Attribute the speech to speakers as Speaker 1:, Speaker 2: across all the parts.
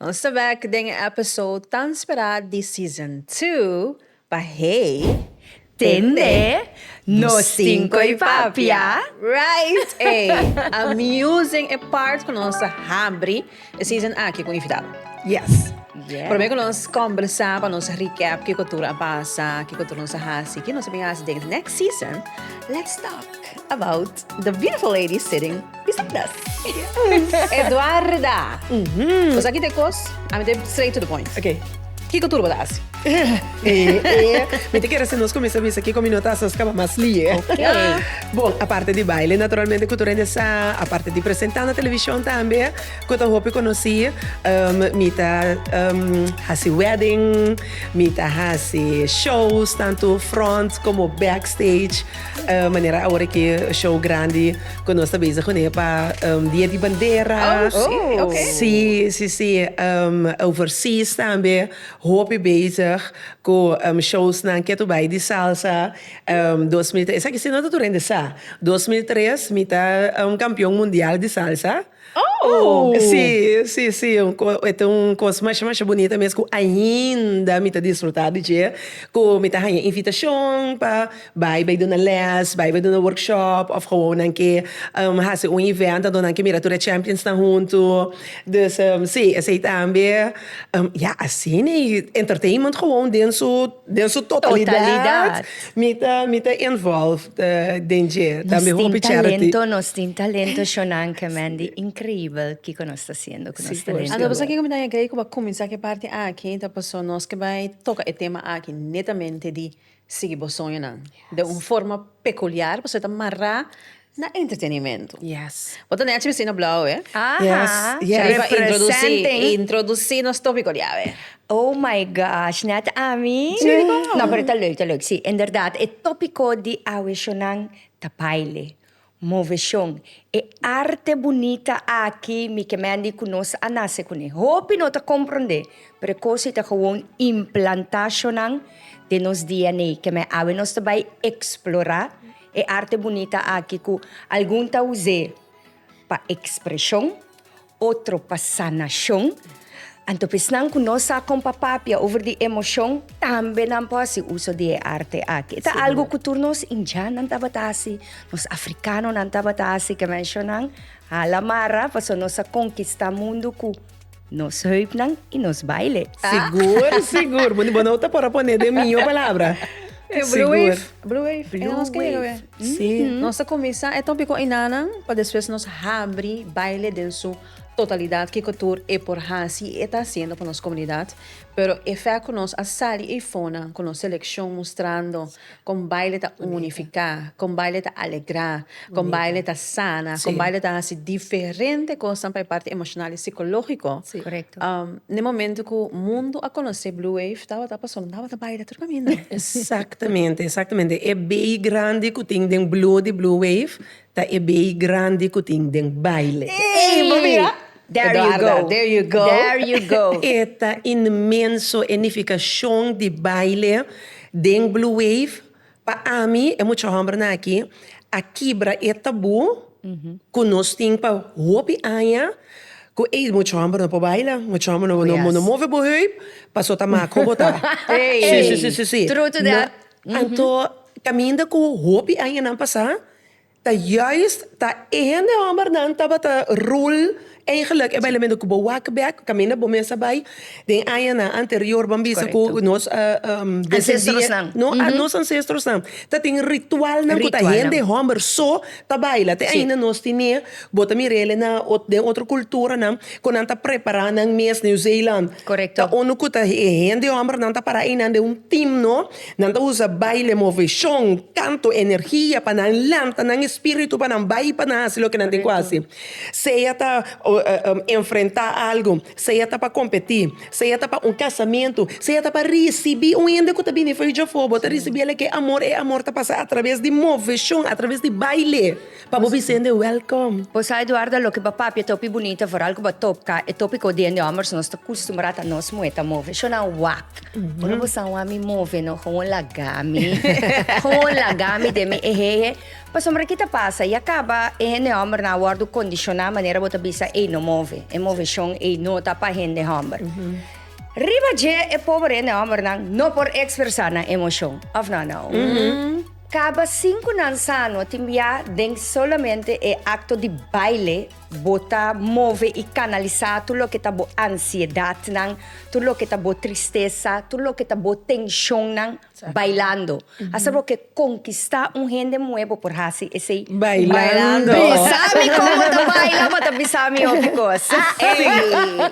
Speaker 1: Nos ta bek den e episode tan spera di season two pa hey tende nos tin koe papia. Right ey! Amusing e part cu nos a habri e season aki cu invitado. Yes! Prome cu nos combersa pa nos recap kico tur a pasa, kico tur nos a haci, ki nos a bin haci den e next season, let's talk about the beautiful ladies sitting. Bisadas. Eduarda. Cos aki ta e cos, ami ta e straight to the point. Okay. Kico tur bo ta haci? Mi ta kere si nos comienza bisa kico mi no ta haci nos caba mas lie. Okay. Bon, aparte di baile naturalmente cu tur hende sa, aparte di presenta na television tambe, cu ta hopi conoci, mi ta haci wedding, mi ta haci shows tanto front como backstage. Manera awor ki show grandi ku nos ta bezig kuné pa Dia di Bandera. Oh, sí? Ok. Sí, sí, sí. Overseas tambe hopi bezig ku showsnan. Ke tur bai di salsa dos mil tres. Esaki sí no ta tur hende sa. Dos mil tres mi ta kampion mundial di salsa. Oh! Sí, sí, sí, un co- e ta un cos masha masha bunita mes cu ainda mi ta disfruta di dje, cu mi ta haña invitacion pa bai bai duna les, bai bai duna workshop of gewoon nan ke haci un event adonan ke mira tur e champions nan huntu. Dus sí, esey tambe, ya asina y entertainment gewoon den su. Den su totalidad mi ta involved den dje, tambe hopi charity. Nos tin talento Shonanke Mandy, increíbel kiko nos ta haciendo cu nos talento. Anto pasobra kiko mi ta agree cu pa cuminsa cu e parti aki ta pasobra nos ke bay toca e tema aki netamente di sigui bo soñonan den un forma peculiar pasobra e ta mará Na entretenimento. Yes. Bo ta nechi bisti no blauw eh. Aha. Yes. Riba introduci introduci nos topico di awe. Oh my gosh net ami. Si di con. No pero ta leuk ta leuk si inderdaad e topico di awe shonan ta baile, moveshon, e arte bunita aki mi ke mendi cu nos a nace cune. Hopi no ta compronde pero e cosi ta gewoon implanta shonan den nos DNA ke me awe nos ta bay explora. E arte bunita aki ku algun ta us'é pa ekspreshon, otro pa sanashon, anto pa esnan ku no sa kon pa papia over di emoshon tambe nan por hasi uso di e arte aki. E ta algu ku tur nos indiannan tabata hasi, nos afrikanonan tabata hasi, ke menshonan hala marra pasobra nos a konkistá mundu ku Nos heupnan i nos baile. Sigur, sigur. Bo no ta por a pone den mi yo palabra. E Blue Wave. Blue Wave. E nos ke yega awe. Si. Nos ta kuminsá e tòpiko Inananan pa despues nos habri baile den su totalidat kiko tur e por hasi i e ta hasiendo pa nos komunidat. Pero e fèkt ku nos a sali ei fonan ku nos selekshon mustrando. Kon baile ta unifiká, kon baile ta alegrá, kon baile ta sana, kon baile ta hasi diferente kosnan pa e parti emoshonal i sikológiko. Na e momentu ku mundu a konosé Blue Wave tabata pasobra nan tabata baila tur kaminda. Eksaktamente, eksaktamente. E bei grandi ku tin den Blue di Blue Wave Ta e baby grandi cu tin den baile. Ey bo mira Eduarda there you go there you go. E ta inmenso e nificacion di baile den Blue Wave. Pa ami e mucha hombernan aki a kibra e tabú cu nos tin pa hopi aña cu ey mucha homber no por baila, mucha homber no move bo heup paso ta maco bo ta. Ey true to that. Anto caminda cu hopi añanan pasa. Ta juist ta e hende hòmbernan tabata rul eigenlik e bailamento ku bo wak bèk kaminda bo mes a bai. Den añanan anterior bo a bisa ku nos nos ansestrosnan tatin ritualnan ku ta hende hòmber so ta baila. Te ainda nos tine, bo ta mira elnan den otro kulturanan ku nan ta prepará nan mes. New Zealand ta unu ku ta e hende hòmbernan ta pará einan den un timno. Nan ta usa baile, moveshon, kanto, energia pa nan lanta nan espíritu pa nan bai pa nan hasi loke nan tin ku hasi. Sea ta enfrentá algu, sea ta pa kompetí, sea ta pa un kasamentu, sea ta pa risibí un hende ku ta bini fo'i djafó, bo ta risibí el lek e amor, e amor ta pasa atraves di moveshon, atraves di baile. Pa bo bisende welkom. Bo sa Eduardo a loke bo a papia ta hopi bunita vooral ku bo a topka e topiko di den di hombres nos ta kustumbrá ta nos muhe ta move sho nan wak ora bo sa wak mi move no gewoon laga mi gewoon laga mi den mi ehehe pasobra ki ta pasa ya kaba e hende homber nan a wordu kondishoná manera bo ta bisa ei no move e moveshon ei no ta pa hende homber riba dje e pober hende homber nan no por ekspresá nan emoshon of no Anna? Caba cinco nan sano tin bia den solamente e acto di baile bo ta move y canalisa tur loke ta bo ansiedad nan, tur loke ta bo tristeza, tur loke ta bo tension nan bailando. Hasta loke conquista un hende muhe bo por haci esey bailando. Bisami como ta baila pa ta bisami hopi cos.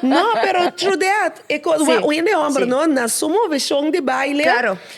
Speaker 1: No pero true that e cos un hende homber no na su movecion di baile.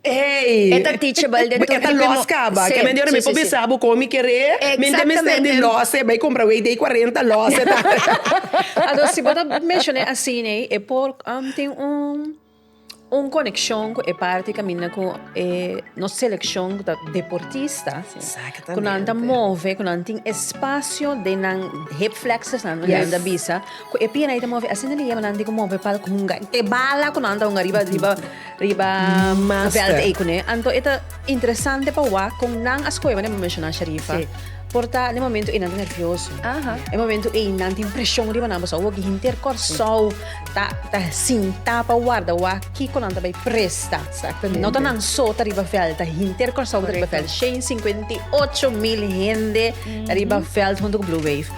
Speaker 1: Hey! E ta teachable den tur E ta tipo los mo- caba. Sí, Ke men di ora sí, mi por sí, sí. bisa bo con mi kere. Mi ta mester di Exactamente. los e bay compra wey day 40 los e ta. Anto si bo ta mencion'é así ne e por am tin un un conexion cu e parti caminda cu e nos seleccion cu ta deportista Exactamente. cu nan ta move cu nan tin espacio den nan hip flexors nan Yes. nan ta bisa cu e pierna'e ta move asina liga mi nan tin cu move palk hunga te bala cu nan ta hunga riba riba Riba bèlte ei kuné. Anto e ta interesante pa wak kon nan a skohe wak, menshoná Sharifa. Por ta den e momentu ei nan ta nervioso. E momentu ei nan tin preshon riba nan pasobra awor ki henter Kòrsou ta sintá pa warda wak kiko nan ta bai presta. No ta nan so ta riba bèlt, ta henter Kòrsou ta riba bèlt. Shei singkwenta i ocho mil hende ta riba bèlt huntu ku Blue Wave.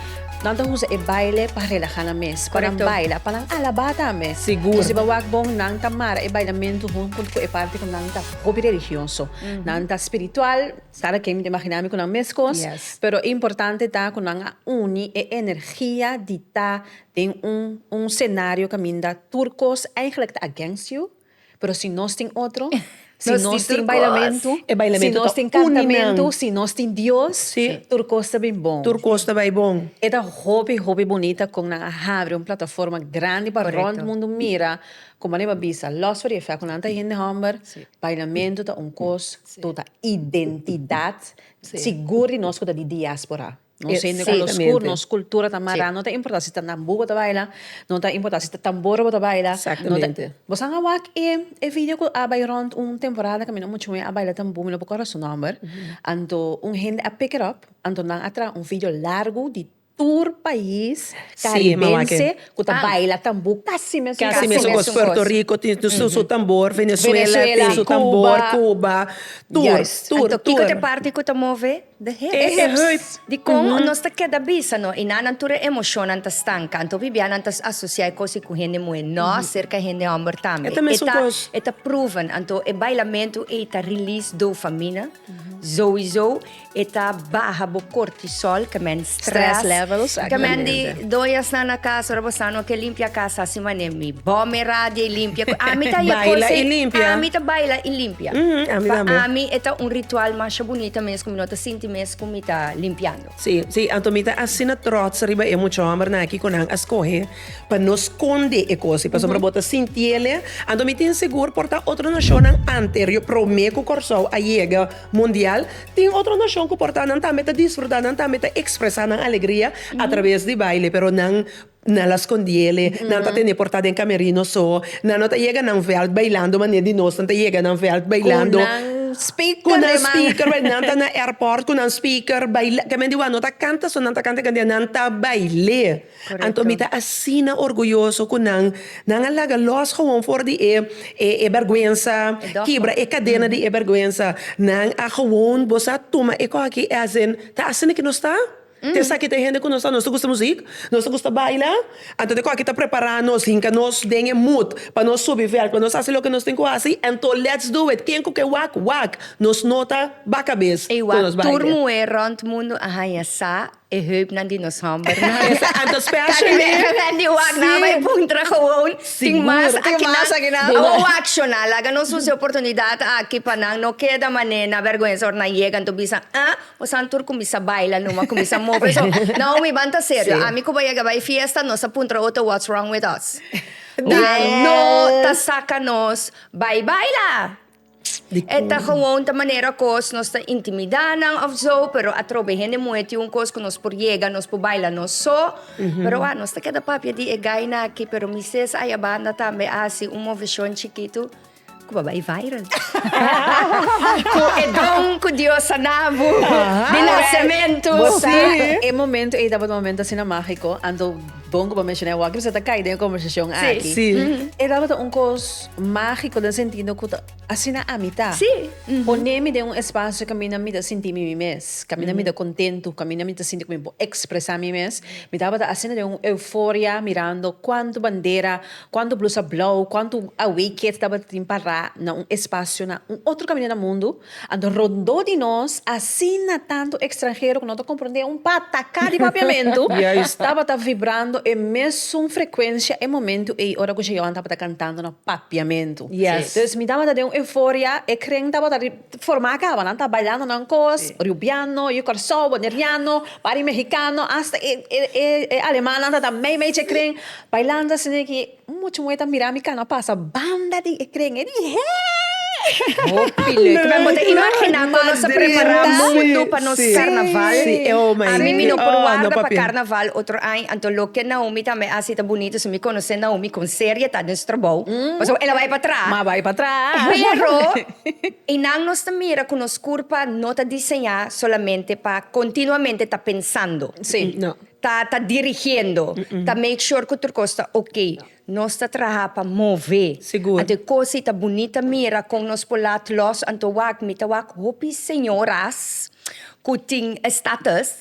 Speaker 1: Nan ta usa e baile pa relaha nan mes, pa nan baila, pa nan alabá tambe. Sigur. Siba wak bon, nan ta mara e bailamentu huntu ku e parti ku nan ta hopi religioso. Nan ta spiritual, kada ken mi ta imaginá mi ku nan meskos, pero importante ta ku nan a uni e energia di ta den un un senario kaminda tur kos eigenlijk ta against you. Pero si nos tin otro, si Nos tin nos tur tin cos. bailamentu, E bailamento si nos ta tin uni nan. cantamentu, si nos tin Dios, Sí. tur cos ta bin bon. Tur cos ta bai bon. E ta hopi, hopi bunita con nan a habri un plataforma grandi pa Correcto. rond mundo mira, como aneba a bisa, los for di e fea cu nan ta hende homber, Sí. bailamento ta un cos, Sí. to ta identidad, Sí. sigur di nos cu ta di diaspora. Nos hende cu lo scu, nos cultura ta mara, no ta importa si ta nambú bo ta baila, no ta importa si ta tambor bo ta baila, bo san a wak e e video cu a bay rond un temporada cu mi no muchu wey a baila tambú mi no por core su nomber, anto un hende a pick it up, anto nan a traha un video largo di tur pais caribense cu ta baila tambú casi mesun cos, casi mesun cos, Puerto Rico tin su tambor, Venezuela tin su tambor, Cuba, tur, tur, tur. Anto kico ta e parti cu ta move? E hurt di kon nos ta keda bisa no inan nan tur e emoshonnan ta stanka. Anto bibia nan ta asosia e kosi ku hende muhé, no aserka hende hòmber tambe. E ta proven, anto e bailamentu ei ta release dofamina, zouzou e ta baha bo kortisòl, ke men. Stress levels aki ta Gemendi, bende. doña sna na casa, ora bo sa no ke limpia casa asi mané mi bome radia i limpia. Ami ta hia Baila kos i ei, limpia. ami ta baila i limpia. Mhm, ami Pa tambe. ami e ta un ritual masha bunita mes ku mi no ta sinti mes ku mi ta limpiando. Sí, sí, anto mi ta asina trots riba e mucha hòmbernan aki ku nan a skohe pa no skonde e kosi, pasobra bo ta sinti ele. Anto mi tin sigur por ta otro nashonnan anterio promé ku Kòrsou a yega Mundial, tin otro nashon ku por ta nan tambe ta disfrutá, nan tambe ta ekspresá nan alegria atraves di baile, pero nan na la skondiele, nan ta tene por ta den kamerino so, nan no ta yega nan vèlt bailando manera di nos nan ta yega nan vèlt bailando, ku nan speaker bailando, nan ta na airport ku nan speaker baila, kèmen di wan no ta kanta so nan ta kanta e kandia, nan ta bail'é. Anto mi ta asina orguyoso ku nan, nan a laga lòs gewoon for di e e bèrgwensa, kibra e kadena di e bèrgwensa. Nan a gewoon bo sa tuma e kos aki, e azen, ta asina ku nos ta? Te esaki ta e hende ku nos ta? Nos ta gusta musik? Nos ta gusta baila? Anto te kos aki ta prepará nos, hinka nos den e mut pa nos subi vèlt, pa nos hasi loke nos tin ku hasi? Anto let's do it! Ken ku ke wak, wak! Nos no ta baka bes ku nos baile. Tur muhé rònt mundu a haña sa E heupnan di nos hòmbernan. Esa anto special mi. Aki nan di wak nan bai puntra gewoon. Tin mas aki nan. Awo wakshona laga nos usa e oportunidat aki pa nan no keda mané na bèrgwensa ora nan yega anto bisa ah bosan tur kuminsá baila numa kuminsá move so Naomi ban ta serio ami ku bo yega bai fiesta nos ta puntra oto what's wrong with us? Nan no ta saka nos bai baila. E ta gewoon ta manera kos nos ta intimidá nan òf zo, pero atrobe hende muhé tin un kos ku nos por yega, nos por baila nos so. Pero wak, nos ta keda papia di e gaina aki, pero mi ses aya banda tambe a hasi un moveshon chikitu ku a bai viral. Ku e don ku Dios a na bo di nasementu. Bo sa, e momentu ei tabata un momentu asina mágiko, anto bon ku bo menshoná e wak, mi sa ta kai den e kòmbersashon aki. E tabata un kos. Mágiko den sentido ku ta asina ami ta. Sí. Poné mi den un espasio kaminda mi ta sinti mi mi mes, kaminda mi ta kontentu, kaminda mi ta sinti ku mi por ekspresá mi mes. Mi tabata asina den un euforia mirando kuantu bandera, kuantu blusa blou, kuantu away kids tabata tin pará na un espasio na un otro kaminda na mundu. And rondó di nos, asina tantu ekstranhero ku no ta komprondé un pataká di papiamentu, tabata vibrando e mesun frekuensia e momentu ei ora ku Jehoan tabata kantando na papiamentu. Dus mi tabata den un euforia, e kren tabata formá kaba, nan ta bailando nan kos, riubiano, yu Kòrsou, boneriano, par di mehikano, asta e alemannan tabata mei mei dje kren, bailando asina aki. Un mochi moe ta mira mi cana pasa banda di e tren e di hee. Hopi leuk. Kibè bo ta imagina kon nos a prepara mundu pa nos karnaval. Ami mi no por warda pa karnaval otro aña. Anto loke Naomi tambe a hasi ta bunito. Si mi konosé Naomi kon seria ta den su trabou. Pasobra el a bai patrás. Pero e nan nos ta mira ku nos kurpa no ta diseñá solamente pa kontinuamente ta pensando. Ta ta dirigiendo, ta make sure cu tur cos ta ok. Nos ta traha pa move. Sigur. Anto cos ei ta bunita mira con nos por laat los. Anto wak, mi ta wak hopi señoras cu tin estatus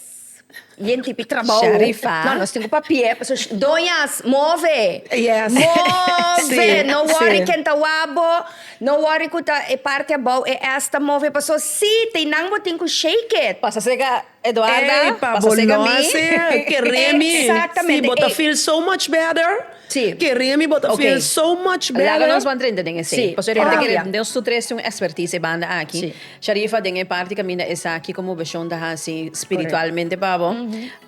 Speaker 1: y en tipi trabao. Sharifa. No, nos tin cu papia. Paso, doñas, move! Yes. Move! Si, si. No worry ken ta wak bo, no worry cu ta e parti abao, e esta move. Paso si, te nan bo tin cu shake it. Pasa serca. Eduarda, Ey, pa pasa bo seca no mi. a sea, queré mi. Exactamente, Si bo ta ey. feel so much better, Sí. queré mi, bo ta Ok. feel so much better. Laga nos bandrente den esey. Sí. Pasobra e hende Papia. kere, nos tur tres tin un expertise banda aki. Sí. Sharifa, den e parti caminda esaki, como Bashon ta haci spiritualmente pa bo?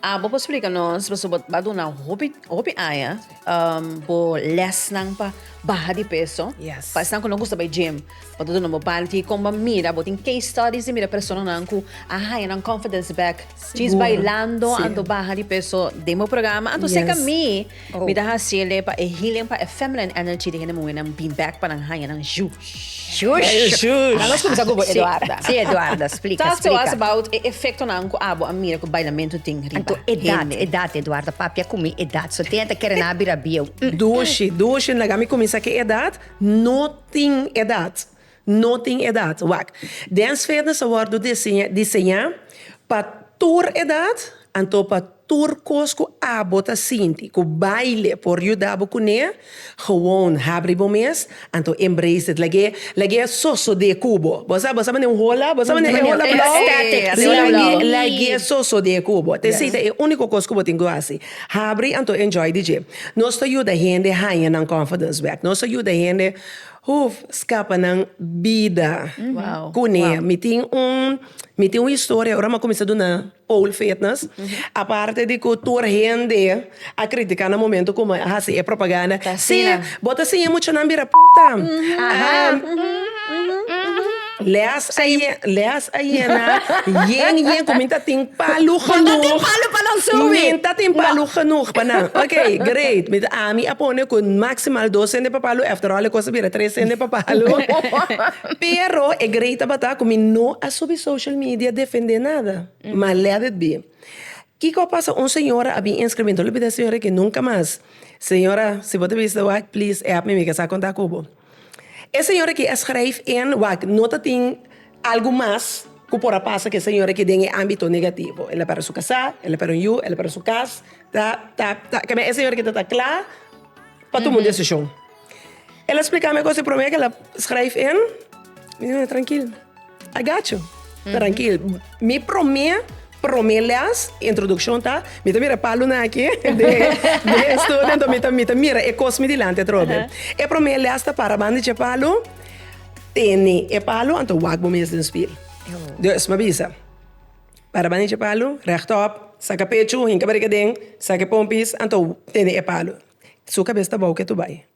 Speaker 1: Abo por splica nos, paso bo a duna hopi, hopi aña, um, bo lesnan pa baha di peso. Yes. Pa esnan cu no gusta bay gym. Bo ta duna bo panty con bo mira bo tin case studies di mira personanan cu a haña nan confidence back djis bailando anto baha di peso den bo programa anto seca mi mi ta haciele pa e healing pa e feminine energy di hende muhernan bin back pa nan haña nan ju shush Ahora nos cuminsa cu bo Eduarda. Si Eduarda splica talk to us about e efectonan cu abo a mira cu bailamento tin riba anto edad edad Eduarda papia cu mi edad so tin e ta kere nan a bira bieu. Dushi dushi laga mi cuminsa cu e edad no Tin edat? No tin edat. Wak. Den sfernan sa wòrdu diseñá pa tur edat, anto pa tur kos ku abo ta sinti ku baile por yuda bo kuné, gewoon habri bo mes, anto embrace it, lag'é lag'é sosodé ku bo. Bo sa, bo sa mane un hola? Bo sa mane e hola blou? Lag'é sosodé ku bo. Te si ta e úniko kos ku bo tin ku hasi. Habri anto enjoy di dje. Nos ta yuda hende haña nan confidence bek. Nos ta yuda hende huf scapa nan bida. Cune mi tin un mi tin un historia ora mi a cuminsa duna pole fitness. Aparte di cu tur hende a critica na momento cu mi a haci e propaganda, si bo ta siña e muchanan bira puta. Leas leas ayena yen yen cu minta tin palu genoeg. Bo ta tin palu pa nos subi. Minta tin palu genoeg pa nan. Ok great mi ta ami a pone cu maximal dos cende pa palu after all e cosa bira tres cende pa palu pero e great tabata cu mi no a subi social media defende nada ma let it be. Kico a pasa un señora a bin inscribir entonces lo bida señora que nunca mas señora si bo ta bisa wak please app mi mi ke sa conta cu bo. E señor aki a skryf en wak, no ta tin algu mas ku por a pasa ku e señor aki den e ámbito negativo. El a pèrdè su kasá, el a pèrdè un yu, el a pèrdè su kas. Ta ta ta kabia e señor aki ta ta kla pa tuma un desishon. El a spliká mi e kos di promé ku el a skryf en mi ta keda trankil. I got you. Trankil. Mi promé, promé lès, introdukshon ta, mi ta mira e palu nan aki den den e studio, anto mi ta mi ta mira e kos mi dilanti atrobe. E promé lès ta para banda dje palu, tene e palu, anto wak bo mes den spil. Dus mi a bisa, para banda dje palu, rèchtòp, saka pechu, hinka bariga'den, saka e pompis, anto tene e palu. Su kabes ta bou ke tu bai.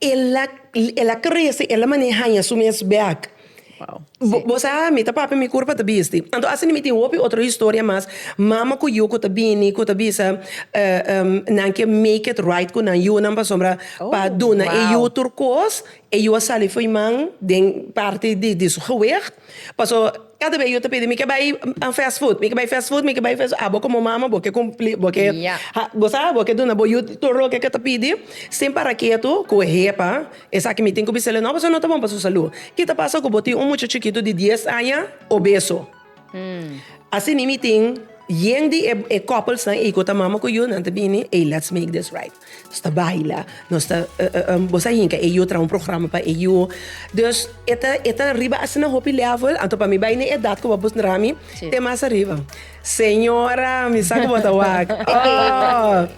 Speaker 1: El a el a crece, el a mane haña su mes bek. Bo bo sa mi ta papia mi kur pa ta bisti. Anto asina mi tin hopi otro historia mas, mama ku yu ku ta bini ku ta bisa nan ke make it right ku nan yu nan pasobra pa duna e yu tur kos, e yu a sali for man den parti di di su gewicht paso Kada bes yu ta pidi mi ke bai fast food mi ke bai fast food mi ke bai fast food a bo komo mama bo ke cumpli bo ke bo sa bo ke duna bo yu tur loke ke ta pidi sin para ketu ku e hepa esaki mi tin ku bisele no pasobra no ta bon pa su salu ki ta pasa ku bo tin un mucha chikitu di dies aña obeso asina mi tin yen di e couples nan ei ku ta mama ku yu nan ta bini ey let's make this right. Nos ta baila, nos ta boso a hinca e yu, traha un programa pa e yu. Dus e ta, e ta riba asina hopi level, anto pa mi bai na e edat cu bo a busca traha mi, te mas ariba. Señora, mi sa cu bo ta wak. Oh!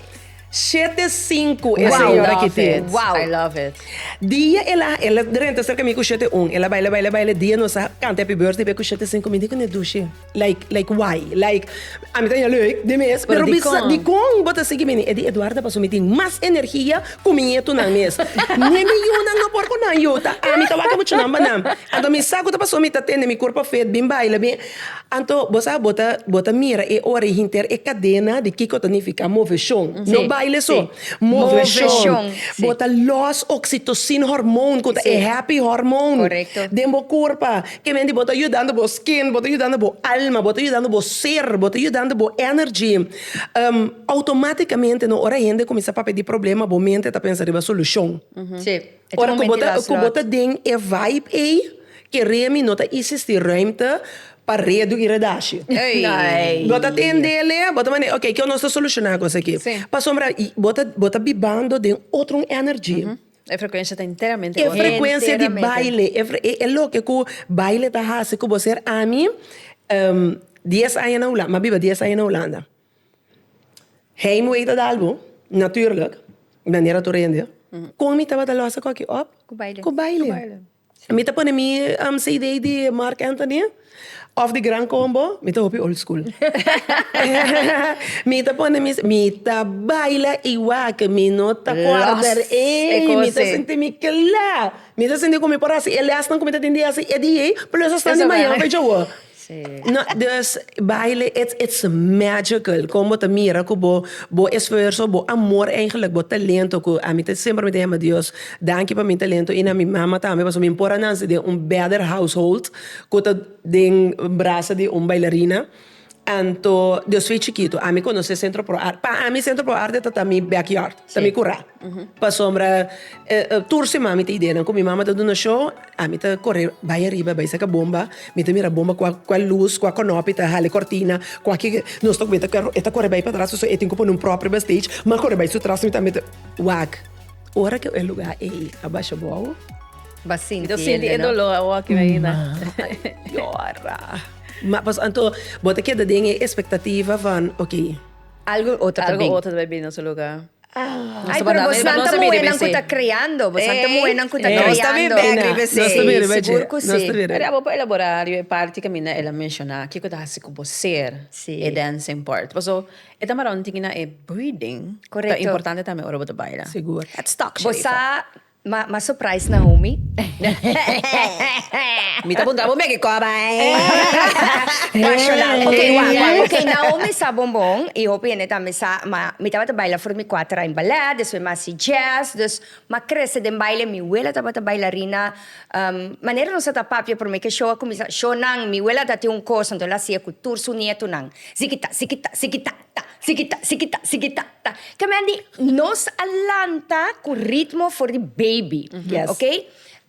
Speaker 1: Shete sinku e señora aki tin. I love it. Dia el a, el a drenta cerca mi cu shete un. El a baila, baila, baila. Dia nos a canta happy birthday pe cu shete sinku, mi di cu ne dushi. Like like why like ami ta haya leuk de mes pero bisa dikon bo ta sigui bini e di Eduarda paso mi tin mas energia cu mi nietunan mes ni e mi yunan no por cu nan yuta ami ta wak muchunan banan anto mi sa cu ta paso mi ta tende mi cuerpo fit bin baila bin anto bo sa bo ta bo ta mira e ora y hinter e cadena di kico ta nifica moveshon no baile so moveshon bo ta los oxitosin hormone cu ta e happy hormone den bo curpa E mente bo ta yudando bo skin, bo ta yudando bo alma, bo ta yudando bo ser, bo ta yudando bo energy. Automaticamente no ora hende cuminsa papia di problema bo mente ta pensa riba solucion. Ora cu bo ta cu bo ta den e vibe ey kere mi no ta existi ruimte pa redu y redashi. Bo ta tendele bo ta mande okay kios nos ta soluciona cos aki. Pasobra bo ta bo ta bibando den otro energy. E frekuensia ta enteramente otro. E frekuensia di baile, e loke ku baile ta hasi ku bo ser ami dies aña na Hulanda, mi a biba dies aña na Hulanda. Heimwee ta dal bo, natuurlik, manera tur hoy en dia. Kon mi tabata lo hasi koki? Òf, ku baile. Mi ta pone mi CD di Marc Anthony of di Gran Combo, mi ta hopi old school. mi ta pone mi, mi ta baila igual que mi no ta cuarda ey, mi ta sinti mi cla. Mi ta sinti cu mi por haci e lesnan cu mi ta tin di haci e día ey, plus hasta di mañana pa djawo. Dus, baile it's it's magical kon bo ta mira ku bo bo esfuerso, bo amor eigenlik, bo talento ku ami ta semper mi ta yama Dios danki pa mi talento i na mi mama tambe pasobra mi por a nanse den un better household ku ta den brasa di un bailarina anto Dios fi chikitu ami konosé Centro Pro Arte pa ami Centro Pro Arte ta ta mi backyard ta mi kura. Pasobra tur siman mi ta idea nan ku mi mama ta duna shó, ami ta kore bai ariba bai saka bomba, mi ta mira bomba kua kua lus, kua konopi ta hali kòrtina, kua ke nos ta kubeta karo, e ta kore bai patras pasobra e tin ku pone un propi bastage, mi a kore bai su tras, mi tambe ta wak. Ora ku e lugá ei a basha bou, mi ta sinti e doló a wòkio ei na yòra. Ma pasobra anto bo ta keda den e espektativa van, oké, algu otro ta bai bini na su lugá. Ay, pero bosnan ta muhénan ku ta kreando, bosnan ta muhénan ku ta kreando. Nos ta bin bèk riba esei. Sí, sigur ku sí. Pero abo por elaborá riba e parti ku mi na el a menshoná, kiko ta hasi ku bo ser e dancing part. Paso e ta mará un tiki na e breathing ta importante tambe ora bo ta baila. Let's talk, Sharifa. Bo sa Ma ma surprise na homie. Mi ta puntra bo meke koba eh. Rational. Ok wa wa ok Naomi sa bon bon y hopi hende tambe sa ma mi tabata baila for mi cuater a in ballet despues mi a haci jazz dus ma crece den baile mi wela tabata bailarina um manera nos ata papia prome ke show a cuminsa shownan mi wela ata tin un cos enton el hacia cu tur su nietonan zikita zikita zikita. Ta, siki ta, siki ta, siki ta, ta. Kemendi nos a lanta ku ritmo for di baby, ok?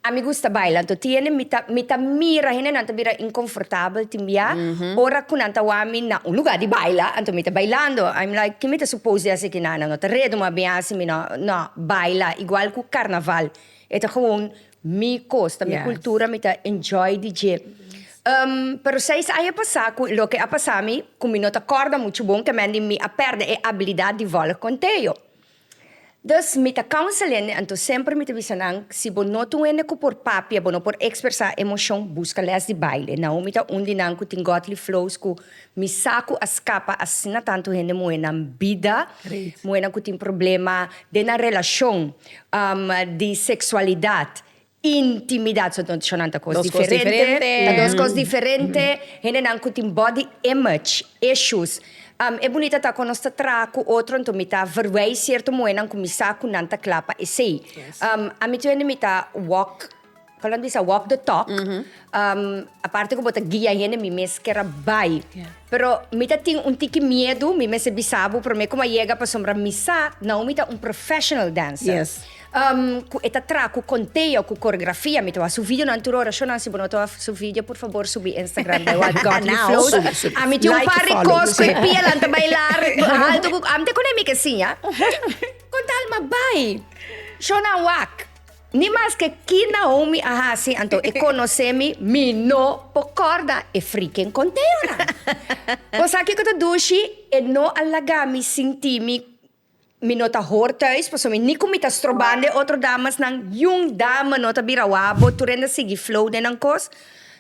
Speaker 1: A mi gusta baila, anto tiene mi ta mi ta mira hendenan ta bira inkomfortabel tin bia ora ku nan ta wami na un lugá di baila, anto mi ta bailando, I'm like ke mi ta supos di hasi aki nan? Nan no ta redu, mi a bin hasi mi no, no, baila igual ku karnaval, e ta gewoon Mi cos ta mi cultura mi ta enjoy di dje um pero seis aña a pasa cu loke a pasa mi cu mi no ta corda mucho bon kemen di mi a perde e abilidad di volg conteo dus mi ta counsel hende anto semper mi ta bisa nan si bo no ta un hende cu por papia bo no por expresa emocion busca les di baile na hoy mi ta un di nan cu tin godly flows cu Mi sa cu a scapa asina tantu hende muhe nan bida, muhenan cu tin problema den nan relacion, di sexualidad, intimidad, so no shon nan ta cos diferente, ta dos cos diferente, hendenan cu tin body image issues, e bunita ta cu nos ta traha cu otro anto mi ta verwij cierto muhenan cu mi sa cu nan ta cla pa esey, ami tu hende mi ta walk. Falando di sa walk the talk, aparte cu bo ta guia hende, mi mes kier a bay. Pero mi ta tin un tiki miedu, mi mester bisa bo, pero mi como a yega pasobra mi sa Naomi ta un professional dancer. Cu e ta traha cu contea, cu coreografia. Mi ta wak su videonan tur ora. Shonan, si bo no ta wak su video, por fabor subi Instagram bay wak Got You Flow. Subi, subi. Like y follow. Ami tin un par di cos cu e pianan ta baylar haltu cu. Ami ta con e mi ke siña. Con tal, ma bay. Shonan wak. Ni maske ki naun mi a hasi, anto e konosé mi, mi no por kòrda e frikén konteonan. Kosaki ku ta dushi e no a laga mi sinti mi mi no ta hor tùis, pasobra ni ku mi ta stroban den otro damesnan, yun dame no ta bira wak bo, tur hende a sigui flow den nan kos.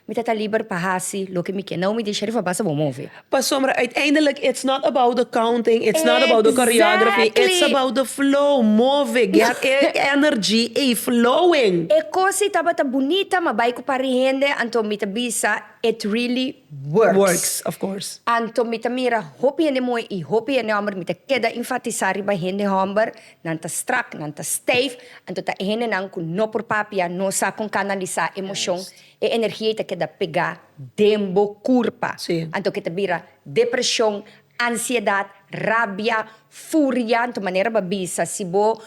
Speaker 1: Mi ta ta liber pa hasi loke mi ke. Nau mi disha di fabá sa bo move. Pasobra uiteindelik it's not about the counting, it's not about the choreography, it's about the flow, move, get e energy ei flowing. E kosi tabata bunita ma bai ku pari hende anto mi ta bisa it really works. Works, of course. Anto mi ta mira hopi hende muhe i hopi hende homber, mi ta keda enfatisa riba hende homber Nan ta strak, nan ta steif, anto ta e hendenan ku no por papia, no sa kon kanalisá emoshon, e energia ei ta keda pegá den bo kurpa. Anto ke ta bira depreshon, ansiedat, rabia, furia, anto manera bo a bisa, si bo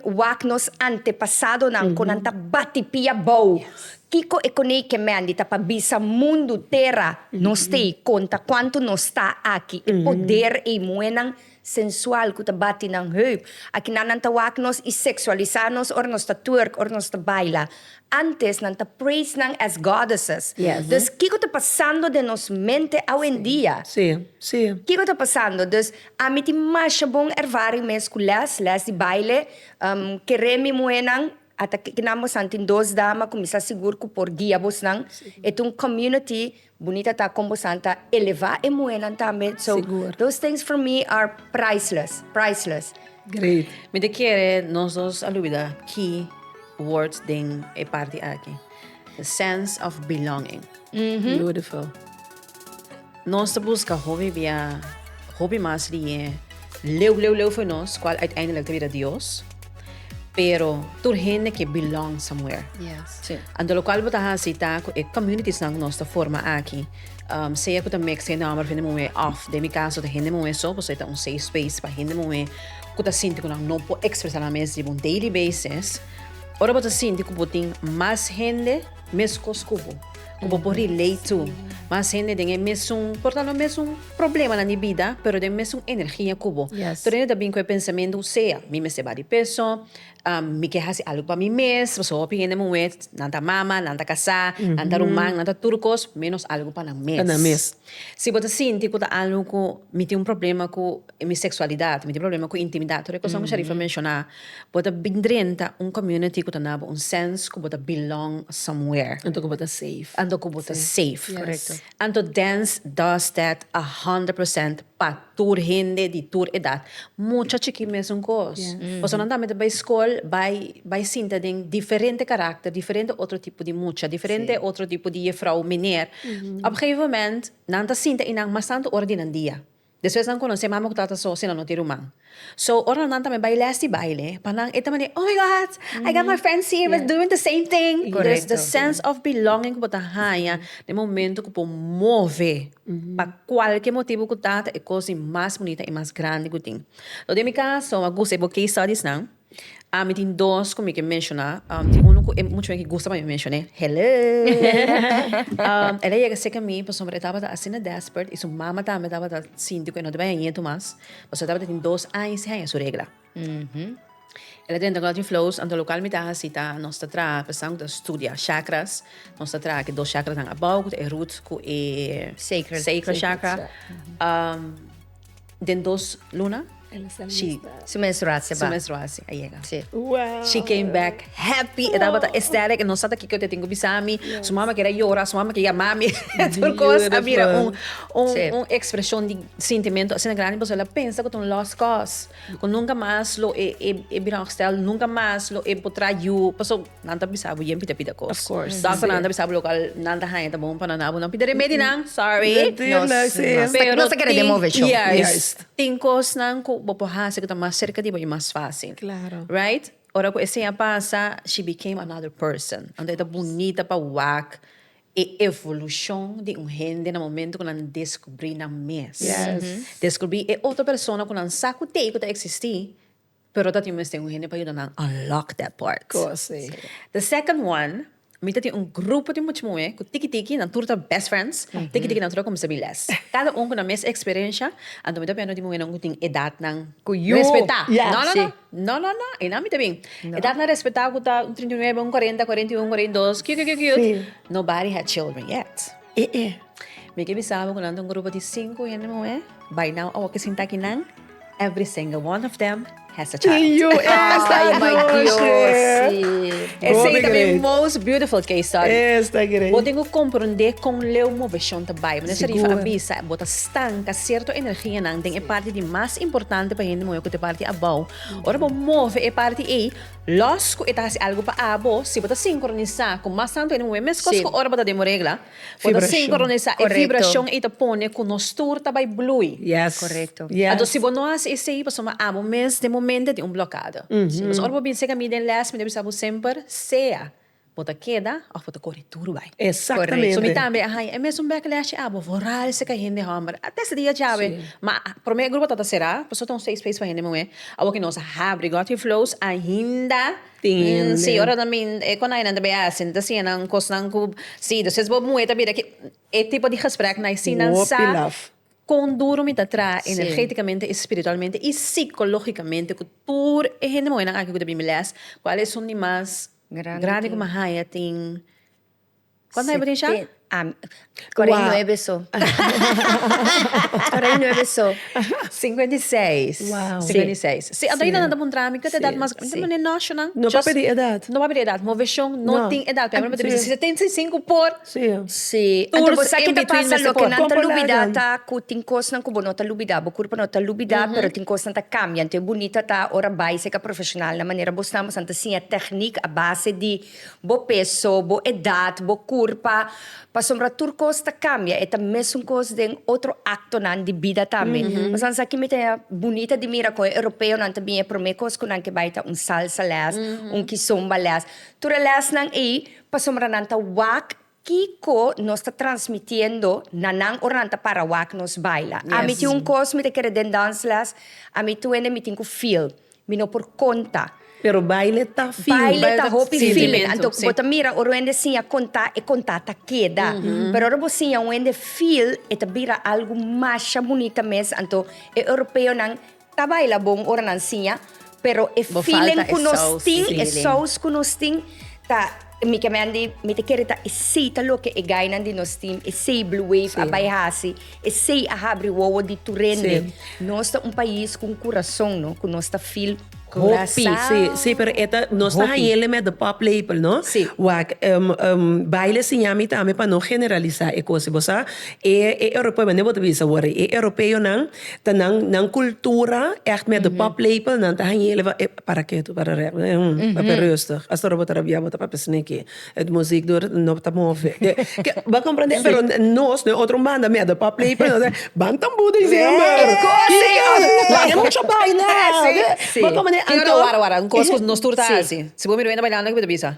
Speaker 1: wak nos antepasadonan kon nan ta bati pia bou, kiko e konei kemendi ta pa bisa mundu, tera, nos t'ei konta kuantu nos ta aki, e poder ei muenan. sensual cu ta bati nan heup. Aki nan nan ta wak nos y sexualisa nos ora nos ta twerk, ora nos ta baila. Antes nan ta praise nan as goddesses. Dus kico ta pasando den nos mente awendia? Kico ta pasando? Dus ami tin masha bon ervaring mes cu les, les di baile. Kere mi muhenan. Ata kiko nan bosnan tin dos dama ku mi sa sigur ku por guia bosnan. E ta un community bunita ta kon bosnan ta eleva e muhernan tambe. So those things for me are priceless, priceless. Great. Mi ta kere nos dos a lubida key words den e parti aki. The sense of belonging. Beautiful. Nos ta buska hopi bia hopi mas di e leu leu leu for nos cual uiteindelijk ta bira Dios. Pero tur hende ke belong somewhere. Yes. Sí. Anto locual bo ta hasi ta cu e communitiesnan cu nos ta forma aki, um, sea cu ta mix hende homber of hende muhe of den mi caso ta hende muhe so, pasobra e ta un safe space pa hende muhe cu ta sinti cu nan no por expresa nan mes riba un daily basis. Ora bo ta sinti cu bo tin mas hende. Meskos ku bo, ku bo por relate to. Mas hende den e mesun, por ta lo mesun problemanan di bida, pero den mesun energia ku bo. Yes. Tur hende ta bin ku e pensamentu, sea, mi mester baha di peso, am, mi ke hasi algu pa mi mes, pasobra hopi hende muhé, nan ta mama, nan ta kasá, nan ta ruman, nan ta tur kos, ménos algu pa nan mes. Pa nan mes. Si bo ta sinti ku ta algu ku mi tin un problema ku mi seksualidat, mi tin problema ku intimidat, tur e kos nan ku Sharifa a menshoná. Bo ta bin drenta un community cu ta nabo un sense cu bo ta belong somewhere. Anto cu bo ta safe. Anto cu bo ta safe. Correcto. Anto dance does that a hundred percent pa tur hende di tur edad. Mucha chiki mesun cos. Personanan tambe ta bay school bay bay sinta den diferente caracter, diferente otro tipo di mucha, diferente otro tipo di jefrouw, meneer. Op gegeven moment nan ta sinta y nan mas tanto ora di nan dia. Despues nan conoce mami cu tata so sino no te ruman. So ora nan tambe bay les di baile pa nan e ta manera oh my God I got my friends here we're doing the same thing. Correcto. The sense of belonging cu bo ta haya den momento cu bo move pa cualkier motibo cu ta ta e cos di mas bunita y mas grandi cu tin. So den mi caso a gusta e bo case studies nan. Ami tin dos cu mi ke menciona. Tin uno cu e mucho hopi gusta pa mi mencione. Hello! El a yega cerca mi pasobra e tabata asina desperate y su mama tambe tabata sinti cu e no tabata ñeñetu mas. Pasobra e tabata tin dos aña y seis aña su regla. El a drenta cu Lottie Flows. Anto lo local mi ta haci ta nos ta traha pesando cu ta studia chakras. Nos ta traha ki dos chakra nan abao cu ta e root cu e sacral chakra. Den dos luna shi su menstruatie ba su menstruatie a yega si she came back happy e tabata ecstatic e no sa ta kiko tin ku bisami su mama kere yora su mama ke yamami e tur kos a bira un un expresion di sintimento asina grandi pasobra el a pensa ku ta un lost cos ku nunka mas lo e e bira un herstel nunka mas lo e por traha yu paso Nan ta bisa bo yen pita pita kos. Of course. Doctor nan ta bisa bo local nan ta haña ta bon pa nan dal bo nan pita remedi nan. Sorry. Natuurlijk, sí. Nos ta- Pero nos ta kere tin- demove show. Juist. Juist. Tin kosnan ku bo por hasi ku ta mas serka di bo i mas fásil. Claro. Right? Ora ku esei a pasa, she became another person. Anto e ta bunita pa wak e evolushon di un hende na momento ku nan deskubrí nan mes. Yes. Deskubrí e otro persona ku nan sa ku tei ku ta eksistí, Pero ta tin mester un hende pa yuda nan unlock that part. Cosi. The second one, mi ta tin un grupo di mucha muhé cu tiki tiki nan tur ta best friends, tiki tiki nan tur a cuminsa bin les. Cada un cu nan mes experiencia, anto mi ta bihando di muhénan cu tin edadnan cu yu respetá. No, no, no. No, no, no. Einan mi ta bin. Edadnan respetá cu ta un trinta i nuebe, un cuarenta, cuarenta i un, cuarenta i dos, cute, cute, cute. Nobody had children yet. E e. Mi ke bisa bo ku nan ta un grupo di sinku hende muhé. Bai nau awo ke sinta kinan, every single one of them has a child. Tin yu esta Ay, my Dios, anoche. sí. Esei Gobi ta mi great. most beautiful case study. Esta great. Bo tin ku komprondé kon leu moveshon ta bai. Meneer Sharif a Sigur. bisa, bo ta stanka sierto energianan den e parti di mas importante pa hende muhé ku ta e parti abou. Ora bo move e parti ei, Los cu e ta haci algo pa abo, si bo ta sincronisa cu mas santo e nube mescos cu ora bo ta den bo regla, bo ta sincronisa e vibracion ei ta pone cu nos tur ta bay bloei. Anto si bo no haci esey pasobra abo mes den bo mente tin un blokada. Pasobra ora bo bin seca mi den les mi ta bisa bo semper sea Bo ta keda of bo ta kore tur bai. Exactamente. So mi tambe a haña e mesun backlash abo for ralse ca hende homber. A testa di a chabe. Ma prome grupo ta ta cera, por so ta un safe space pa hende muhe. Awo ki nos a habri Got Your Flows ainda tin hende. Si ora nan bin e konainan ta bay a hasi nan ta siña nan cosnan cu si do ses bo muhe ta bira ki e tipo di gesprek nai si nan sa con duro mi ta traha energeticamente y spiritualmente y psicologicamente cu tur e hende muhenan aki cu ta bini les cual e son di mas Grandi ku Mahaya tin kuantu haya bo tin sha? Kore i nuebe so. Kore i nuebe so. Sinkuenta i seis. Wow. Sinkuenta i seis. Si anto ayina nan ta puntra mi ku ta edat mas grandi? Mané no, Shunan. No pa pidi edat. No pa pidi edat. Moveshon no tin edat. Por ehempel nan ta bisa si setenta i sinku por. Sí, anto bo sa ke ta pasa, loke nan ta lubidá ta ku tin kosnan ku bo no ta lubidá, bo kurpa no ta lubidá pero tin kosnan ta kambia, anto e bunita ta ora bai seka profeshonal na manera bo stamba san ta siña teknik a base di bo peso, bo edat, bo kurpa, pasobra tur kos ta kambia, e ta mesun kos den otro aktonan di bida tambe, pasan sa kimi ta bunita di mira kon e europeonan ta bin e promé kos ku nan ke bai ta un salsa lès, un kizomba lès, tur e lèsnan ei. Pasobra nan ta wak kiko nos ta transmitiendo na nan ora nan ta para wak nos baila. Ami tin un kos mi ta kere den dansles, ami tuende mi tin ku feel, mi no por konta. Pero baile ta feel, baile ta. Baile ta hopi feeling, anto bo ta mira ora un hende siña konta, e konta ta keda. Pero ora bo siña un hende feel e ta bira algu masha bunita mes, anto e Europeonan Ta baila bon ora nan siña, pero e feeling ku nos tin, e sous ku nos tin ta mi ke men di mi ta kere ta esei ta loke e gainan di nos tin, esei Blue Wave a bai hasi, esei a habri wowo di tur hende. Nos ta un pais ku un kurason no, ku nos ta feel hopi. Hopi, pero e ta, nos ta hañele met de pop lepel no. Wak, baile siña mi tambe pa no generalisa e kos ei. Bo sa, e europeo, bo ta bisa wor ei, e europeonan Ta nan, nan cultura echt met de paplepel, nan ta hañele van ep, para ke tur para rèk, papia rustig, astora bo ta rabia bo ta papia snikkie, et muziek dor no ta move. Bo comprende? Pero nos den otro banda met de paplepel, nos ta, ban tambou december! Laga e mucha baila! Bo comprende? Anto. Tin ora wara wara, un kos ku nos tur ta hasi. Si bo mira wende bailando, ke bo ta bisa?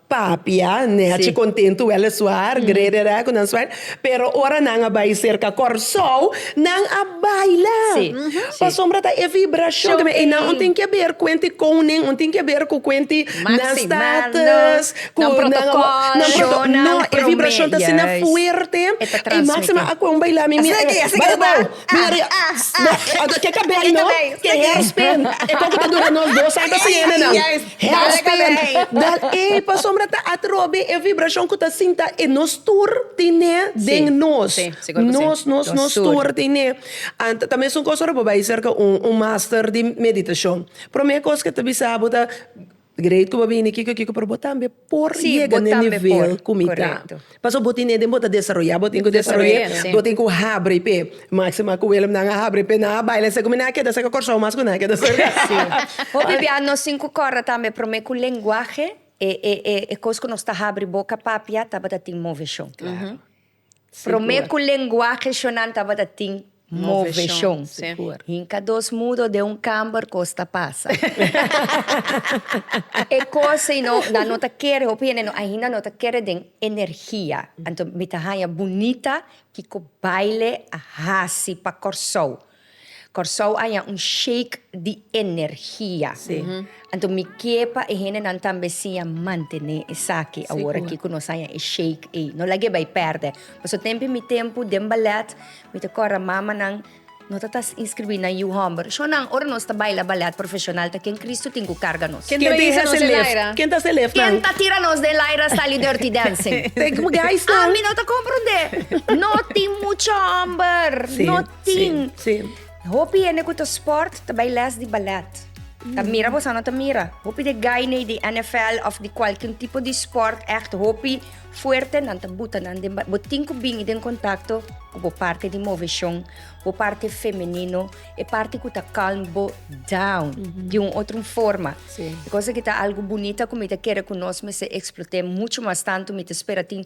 Speaker 1: Papia, Neche kontentu wèl e suar, grede rèk ku nan suar. Pero ora nan a bai serka Kòrsou, nan a baila. Pasobra ta e vibrashon ke men. I nan un tin ke ber kuent di koning, un tin ke ber ku kuent di nan status, ku nan protokòl. Nan protokòl, no. E vibrashon ta asina fuerte. I Máksima a kon baila mi mira. Asina ke, bai abou, bin ariba. Ke ka bai no, ke hèrspen. E kon ku ta dura nos dos sa ta siña nan. Hèlspin, dat e pasobra ta atrobe e vibrashon ku ta sinta e nos tur ten'é den nos. Nos, nos, nos tur ten'é. Ant ta mesun kos ora bo bai serka un master di meditashon. Promé kos ke ta bisa bo ta, Great ku bo bini kiko kiko, pero bo tambe por yega n'e nivel ku mi ta. Pasobra bo tin e den bo ta desaroyá, bo tin ku desaroy'é, bo tin ku habri p'e. Máxima ku Willem nan a habri p'e, nan a baila esei ku mi nan a keda serka Kòrsou mas ku nan a keda serka. Hopi bia nos tin ku kòrda tambe promé ku lenguahe e kos ku nos ta habri boka papia tabata tin moveshon. Promé ku lenguahe shonan tabata tin moveshon. Hinka dos mudo den un kamber kos ta pasa. E kos ei no nan no ta kere, hopi hende no ainda no ta kere den energia. Anto mi ta haña bunita kiko baile a hasi pa Kòrsou. Kòrsou haña un sheik di energia. Anto mi ke pa e hendenan tambe siña mantené esaki aworakí ku nos haña e sheik ei. No lag'é bai pèrdè. Pasobra tempu i mi tempu den balèt mi ta kòrda mamanan no ta ta inskribí na yu hòmber. Shonnan, ora nos ta baila balèt profeshonal ta ken Kristu tin ku karga nos? Ken ta hisa nos den laira? Ken ta hisa e lefnan? Ken ta tira nos den laira sali Dirty Dancing? Ami no ta komprondé. No tin muchu hòmber. tin. Sí, sí. Hopi hende ku ta sport ta bai les di ballet. Ta mm. mira bosa no ta mira. Hopi de gainei di NFL of di cualquier tipo di sport echt hopi fuerte nan ta buta nan den bo tin ku bin den contacto ku bo parte di movecion, bo parte femenino, e parte ku ta calm bo down mm -hmm. di un otro forma. Sí. Cosa ki ta algo bonita ku mi ta kere ku nos mester explote mucho mas tanto mi ta spera tin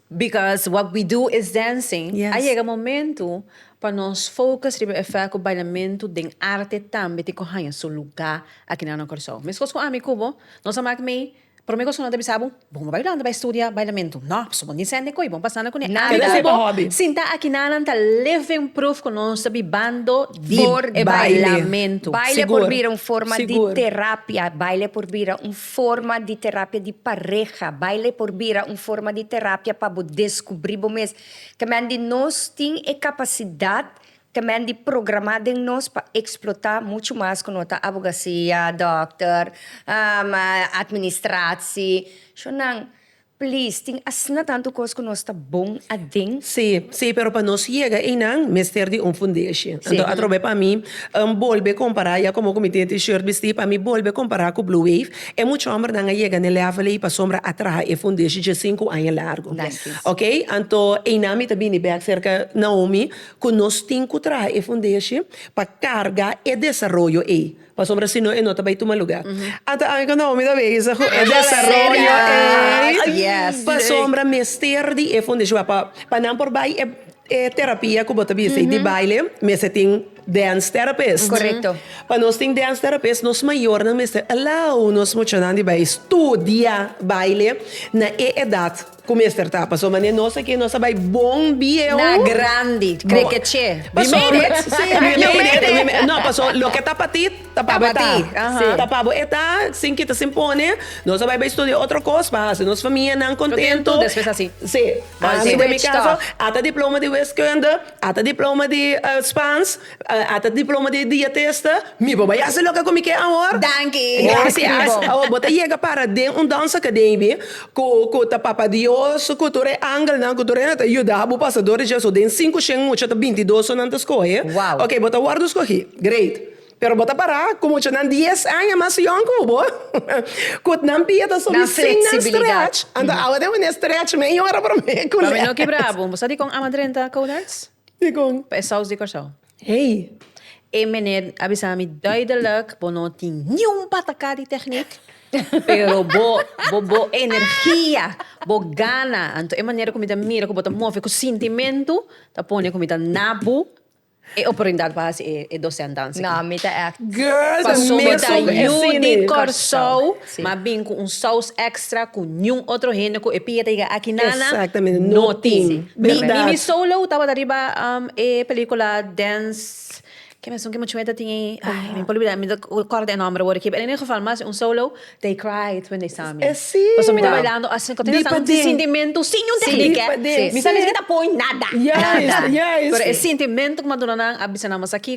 Speaker 1: Because what we do is dancing, a yega momentu pa nos focus riba e fèt ku bailamentu den arte tambe tin ku haña su lugá aki na no Kòrsou. Meskos ku ami ku bo, nos a mak mei, promé kos ku no ta bisa bo, Bon bo bailando bai studia bailamentu? Nò, pasobra bo no tin sende koe bon pasando ku e arte ku bo sinta aki na nan ta living proof ku nos ta bibando di e bailamentu. Baile por bira un forma di terapia, baile por bira un. Forma di terapia di pareha. Baile por bira un forma di terapia pa bo descubri bo mes. Camen di nos tin e capacidad, camen di programa den nos pa explota mucho mas cu no ta abogacia, dokter, administratie. Sho nan. Please, tin asina tantu cos cu nos ta bon aden. Sí, sí, pero pa nos yega eynan mester di un fundeshi. Anto atrobe pa mi um bolbe compara, ya como cu mi tin e T-shirt bisti, pa mi bolbe compara cu Blue Wave, e mucha hombernan a yega n'e level ey pasobra a traha e fundeshi dje sinku aña largu. Ok, anto eynan mi ta bini bek cerca Naomi cu nos tin cu traha e fundeshi pa carga e desaroyo ey. Pasobra si no e no ta bai tuma luga. Ata aki cu Naomi ta bey sa cu e desaroyo ey, pasobra mester di e fundacion a pa nan por bai e e terapia cu bo ta bisa ey di baile mester tin dance therapist. Pa nos tin dance therapist nos mayornan mester allow nos muchanan di bai studia baile na e edad. Cu mester ta paso mane nos aki nos a bay bon bieu. Na grandi, cre que che. Paso. We made it, si we made it, we made it, we no paso loke ta pa ti ta pa bo eta, si ta pa bo eta sin kita sin pone nos a bay bay studia otro cos pa haci nos famia nan contento, si ami den mi caso ata diploma di wiskunde ata diploma di Spaans. Ata diploma di e dia ta esta. Mi bo bai hasi loke ku mi ke awor. Danki. Grasias. Awor bo ta yega para den un dans akademi ku ku ta Papa Dios ku tur e angelnan ku tur hende ta yuda bo pasa dor di dje. So den sinku shen mucha ta binti dos so nan ta skohe. Wow. Oke bo ta wòrdu skohi. Great. Pero bo ta para ku muchanan dies aña mas yòn ku bo ku nan pia ta sobi sin nan strèch. Anto awor den wene strèch mi a yora promé ku nan. Pa mi no kibra bo. Bo sa dikon amadrenta Codarts? Dikon? Pa e saus di Kòrsou. Hey! E meneer a bisa mi duidelijk, bo no tin niun pataká di techniek, pero bo bo bo energia, bo gana, anto e manera ku mi ta mira ku bo ta move ku sintimentu ta pone ku mi ta na bo e oportunidat pa hasi e e dosèn danse. Na, mi ta èkt. Girl, ta Pasobra ta mester yu di asina. Kòrsou. mas bin cu un saus extra cu niun otro hende cu e pia ta yega aki nana no tin. Mi mi solo tabata riba e pelicula Dance, ke mesun ke muchacho e ta tin ey, ay mi por olbida, mi ta corda e nomber awor aki, pero en e geval mas un solo, They cried when they saw me. Pasobra mi ta bailando asina, cu ta yega sa un sintimento sin niun tehniek eh, mi sa mesmo ke ta poi nada, pero e sintimento cu maduna nan a bisa nan mas aki.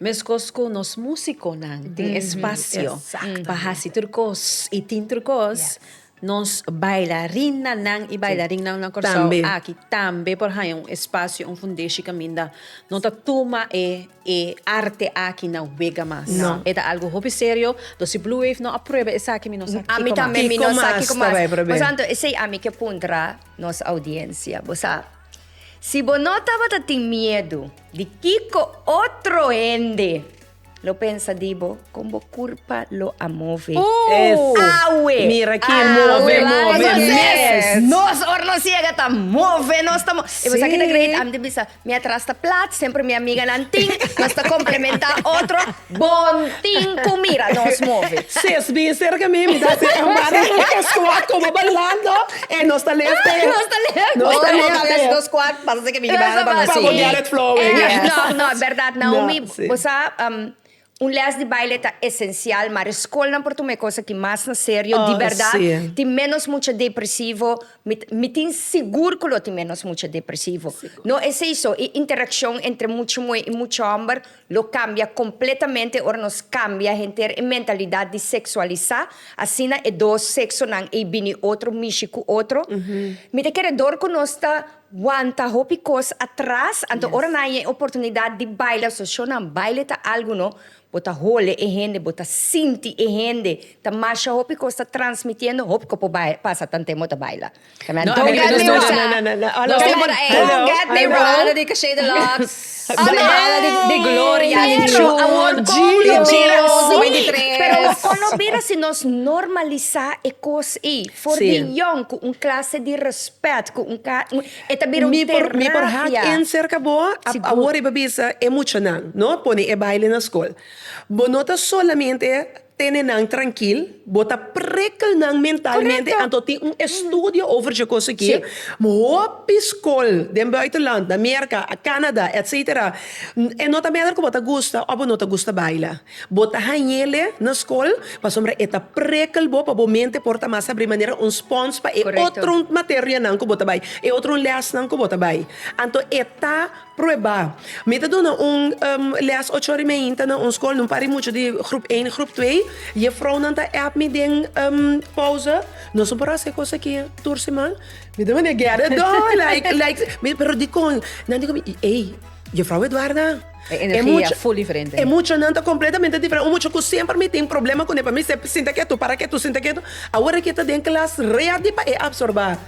Speaker 1: Mescos cu nos musiconan tin espacio pa haci tur cos y tin tur cos, nos bailarinanan y bailarinnan na Curaçao aki tambe por haña un espacio, un fundeshi caminda no ta tuma e arte aki na wega mas. E ta algo hopi serio, dus si Blue Wave no a prueba esaki mi no sa kico mas. Kico mas ta bay probé. Pasobra esey ami ke puntra nos audiencia. Bo sa. Si bo no tabata tin miedu, di kiko otro hende lo pensa di bo con bo curpa lo a move? Uf! Awe! Mira ki e move, Awe, move move nos mes. mes. Nos, ora nos yega, ta move, nos ta mo- E bo sa ki ta great? Sí. Ami ta bisa, mi atras ta plat, semper mi amiganan tin, nos ta complementa otro. Bon tin cu mira nos move. Ses bin cerca mi, mi ta haci embara nos dos squad como bailando en nos ta lef tef. Nos ta lef tef. Nos ta lef tef. Nos squad pasa así que mi di baila pa nos. Pa bo get it flowing. No, no, e berdad Naomi, bo sa un les di baile ta esencial, maar e scolnan por tuma e cos aki mas na serio, di berdad tin menos mucha depresivo, mi mi tin sigur cu lo tin menos mucha depresivo. No esey so, e interaccion entre mucha muhe y mucha homber Lo cambia completamente ora nos cambia henter e mentalidad di sexualisa, asina e dos sexonan ey bini otro mishi cu otro. Mi ta kere door cu nos ta wanta hopi cos atras, anto ora nan yen oportunidad di baila, so show nan baile ta algo no, bo ta hole e hende, bo ta sinti e hende, ta masha hopi cos ta transmitiendo, hopi cos por pasa tanten bo ta baila. Don't get me wrong. Don't get me wrong. Don't get me wrong. Banda di Caché de Lux. Banda di Gloria. Di Chun. Award Gio. Di Rose 93. Pero con no bira si nos normalisa e cos ey for di yong cu un clase di respet cu un e ta bira un terapia. Mi por hak in cerca bo awor riba bisa e muchanan no pone e baile na school. Bo no ta solamente. Tene nan trankil, bo ta prikkel nan mentalmente, anto tin un estudio over dje kos aki. Hopi skol den buitenland, na Merka, Canada, etcetera, e no ta mester ku bo ta gusta of bo no ta gusta baila. Bo ta hañele na skol pasobra e ta prikkel bo pa bo mente por ta mas abri manera un spons pa e otro materianan ku bo ta bai, e otro lèsnan ku bo ta bai. Anto e ta Prueba. Mi ta duna un um lès ocho ora i meinta na un skol, no pari muchu di grup één, grup twee. Jefrounan ta èp mi den um pouse, Nos no por hasi e kos aki tur siman. Mi ta manda get it done, like, like, mi, pero dikon? Nan di ku mi, Ey, Jefrou Edwarda, E energia full diferente. e muchanan ta kompletamente diferente. Un mucha ku semper mi tin problema kuné, pa mi sep, sinta ketu, para ketu, sinta ketu, awor aki e ta den klas ready pa e absorbá.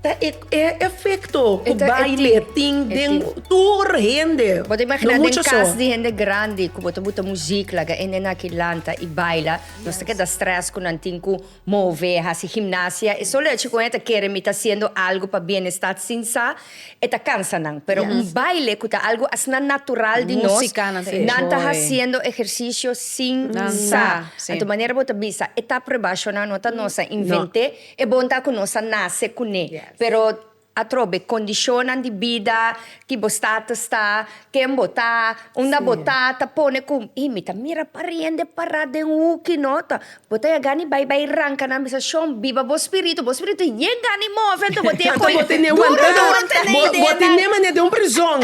Speaker 1: Ta e efecto cu baile tin den tur hende, no mucha so. Cas di hende grandi cu bo ta buta muziek laga hende na aki lanta y baila, nos ta keda stress cu nan tin cu move, haci gimnasia, e solo hecho cu nan e ta kere mi ta haciendo algo pa bienestat sin sa e ta cansa nan, pero un baile cu ta algo asina natural di nos, nan ta haciendo ejercicio sin sa, anto manera bo ta bisa etap rebasionan no ta nos a invente. E bon ta ku nos a nase kuné, pero atrobe kondishonnan di bida ki bo status ta, ken bo ta, unda bo ta, ta pone ku, ei mi ta mira pariende pará den huki no ta. Bo ta yagani bai bai ranka nan bisa shon, biba bo spiritu, bo spiritu yegani move anto bo tin e koi duro di wanta nei den nan. Bo tin ne manera di un prizon,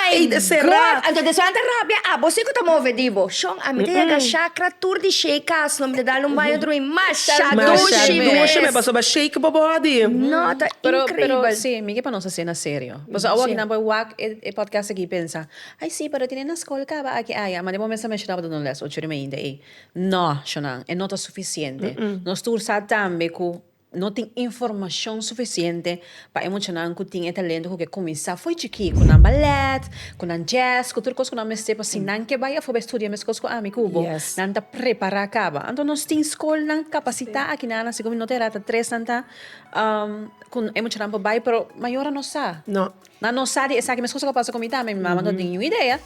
Speaker 1: ei ta será. Anto despues nan ta rabia, abo si ku ta move di bo. A mi ta yaga shakra tur di shei kas no mi ta dal un baño otro bey masha dushi dushi me pasoba shake bo body no ta increibel si mi ke pa nos asina serio paso awo aki nan por wak e podcast aki y pensa ay si pero tine na school caba aki aya mane bo mester menshoná pa duna un les ocho ri mainta ey no shonan e no ta suficiente nos tur sa tambe cu No tin informashon sufisiente pa e muchanan ku tin e talento ku ke kuminsá fo'i chikí, ku nan balèt, ku nan jazz, ku tur kos ku nan mester pa si nan ke bai afó bai studia meskos ku ami ku bo, nan ta prepará kaba. Anto nos tin skolnan kapasitá aki nan asikoba mi no ta herá ta tres nan ta ku e muchanan por bai pero mayor a no sa. No, Nan no sa di esaki mescos lo pasa cu mi tambe. Mi mama no tin niun idea.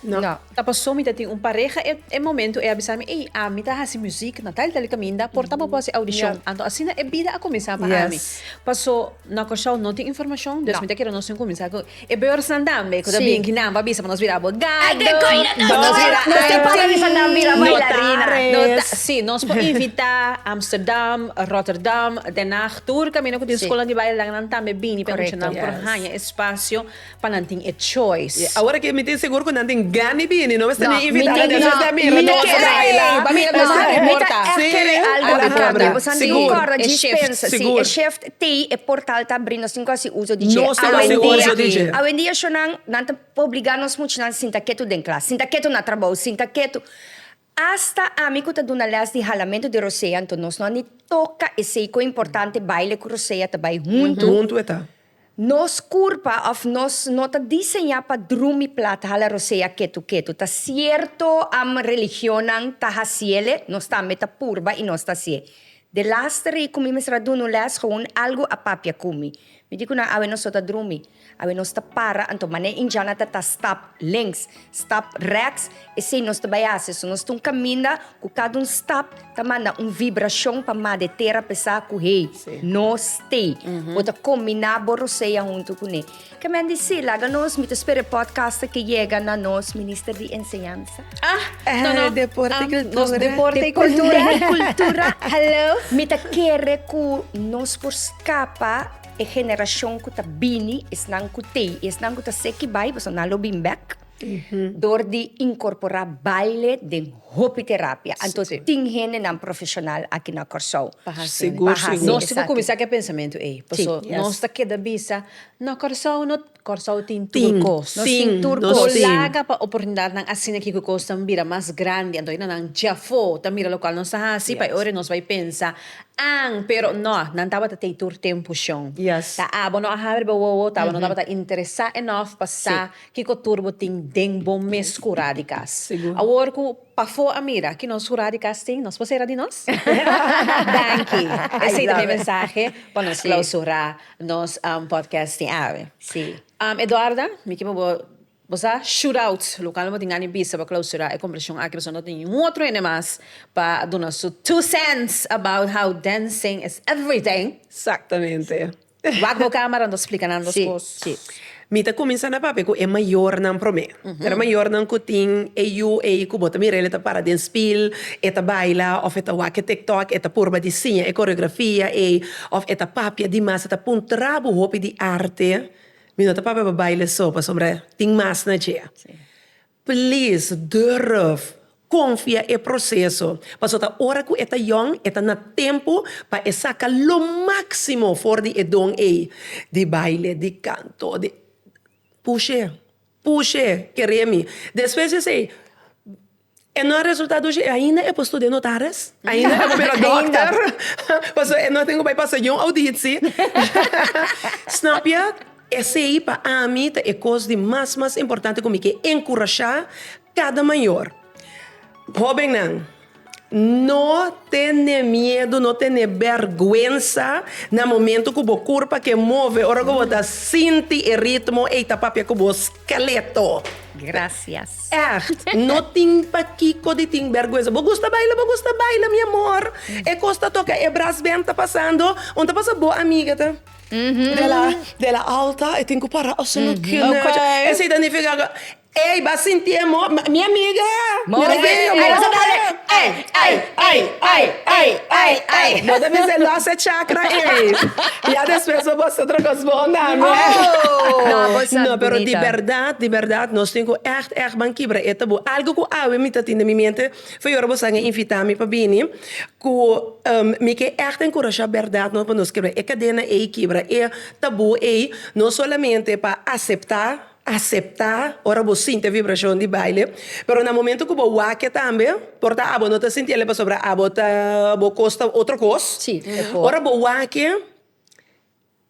Speaker 1: Ta paso mi ta tin un pareha e e momento e a bisa mi ey ami ta haci music na tal y tal caminda por ta bo por haci audicion. Anto asina e bida a cuminsa pa ami. Paso na Curaçao no tin informacion dus mi ta kere nos tin cuminsa cu e beurtsnan tambe cu ta bin ki nan pa bisa pa nos bira abogado, pa nos bira actriz, nos ta si nos por invita Amsterdam, Rotterdam, Den Haag. Tur camino cu tin scola di baile dan nan tambe bini pa escucha nan por haya espacio pa nan tin e choice. Awor mi tin sigur cu nan tin gan di bini, no mester ni invita nan tin sha mira nos a baila. Mi ta echt kere algo di cambio, pues nan tin corda dji spens, si e shift tey e portal ta bri nos tin cu hasi uso dje. Awendia, awendia sho nan ta obliga nos muchanan sinta ketu den klas, sinta ketu na trabou, sinta ketu. Asta ami cu ta duna les di halamentu di Rosea anto nos no a ni toca esey cu importante baile cu Rosea ta bay hunto. Hunto e ta. Nos curpa of nos no ta diseña pa drumi plat hala Rosea ketu ketu. Ta cierto am religionnan ta haciele, nos tambe ta purba y nos ta hacie. De laster ey cu mi mester a duna un les gewoon algo a papia cu mi. Mi di cu nan awe nos lo ta drumi. Awe nos ta para anto mane Indiana ta ta stap links, stap rechts, esey nos ta bai haci. So nos ta un caminda cu cada un stap ta manda un vibracion pa ma de tera pesa cu hei no stay bo ta combina bo rosea hunto cu ne. Ke men di si laga nos mi ta spera e podcast ke yega na nos Minister di Enseñansa. Ah, eh, no, no. Deporte um, cultura. Nos deporte, deporte cultura. cultura. Hello. Mi ta kere ku nos por skapa e generashon ku ta bini, esnan ku tei, esnan ku ta seki bai, boso nan lo bin back. Mm-hmm. Door di incorpora baile den hopi terapia. Anto sí. tin hende nan profesional aquí na Corsou. Seguro, seguro. Nós temos começar que pensamento aí. Porque sí. nós yes. tá queda bisa, na Corsou não Kòrsou tin tur kos. Nos tin tur kos. Nos tin. Nos laga pa oportunidatnan asina kiko kos ta bira mas grandi. Anto henda nan djafó ta mira lokual nos ta hasi pa e ora y nos bai pensa, An, pero nò, nan tabata tei tur tempu shon. Yes. Ta abo no a habri bo wowo, ta abo no tabata interesá ènòf pa sa kiko tur bo tin den bo mes kurá di kas. Sigur. Awor ku pafó a mira ki nos kurá di kas tin, nos por sera di nos? Danki. Esei ta mi mensahe pa nos klausurá. Nos podcast tin awe. Si. Eduarda, mi kier pa bo bo sa shootout local no bo tin gani bisa pa clausura e conversacion aki pasobra no tin ningun otro hende mas pa duna su two cents about how dancing is everything. Exactamente. Wak bo camera anto splica nan dos cos. Si. Mi ta kuminsá na papia ku e mayornan promé. Pero mayornan ku tin e yu ei ku bo ta mirel e ta para den spil, e ta baila òf e ta wak e tiktok, e ta purba di siña e koreografia ei òf e ta papia di mas, e ta puntra bo hopi di arte. Mi no ta papia pa baile so, pasobra tin mas na dje. Please durf konfia e proseso, paso ta ora ku e ta yòn e ta na tempu pa e saka lo máksimo for di e don ei, di baile, di kanto, di. Push'é, push'é, ker'é mi. Despues di esei, e no a resultá dushi, e ainda e por studiá notaris, e ainda e por bira dòkter, paso e no a tin ku bai pasa yon auditsi, snapia. Esei pa ami ta e kos di mas mas importante ku mi ke enkurashá kada mayor. Hóbennan, no tene miedu, no tene bèrgwensa na momentu ku bo kurpa ke move, ora ku bo ta sinti e ritmo ei ta papia ku bo skeleto. Grasias. Ègt, no tin pakiko di tin bèrgwensa. Bo gusta baila, bo gusta baila, mi amor. E kos ta toka, e brasbènt ta pasando. Unda ta pasa bo amiga ta? De la alta e tin ku para oso no kende ocho esei ta nifiká ku ey ba sinti e mo mi amiga mi ta gei e mo bo ta bisa e lost e chakra ey ya despues bo bos otro kos bon na mi no pero di bèrdat di bèrdat nos tin ku ègt ègt ban kibra e tabú algu ku awe mi ta tin den mi mente. Fe ora boso a haya invita mi pa bini cu mi ke echt encouraja berdad pa nos kebra e cadena ey, kibra e tabu ey, no solamente pa acepta, acepta ora bo sinti e vibracion di baile, pero na momento cu bo wak tambe, por ta abo no ta sinti ele pasobra abo ta bo cos ta otro cos, ora bo wak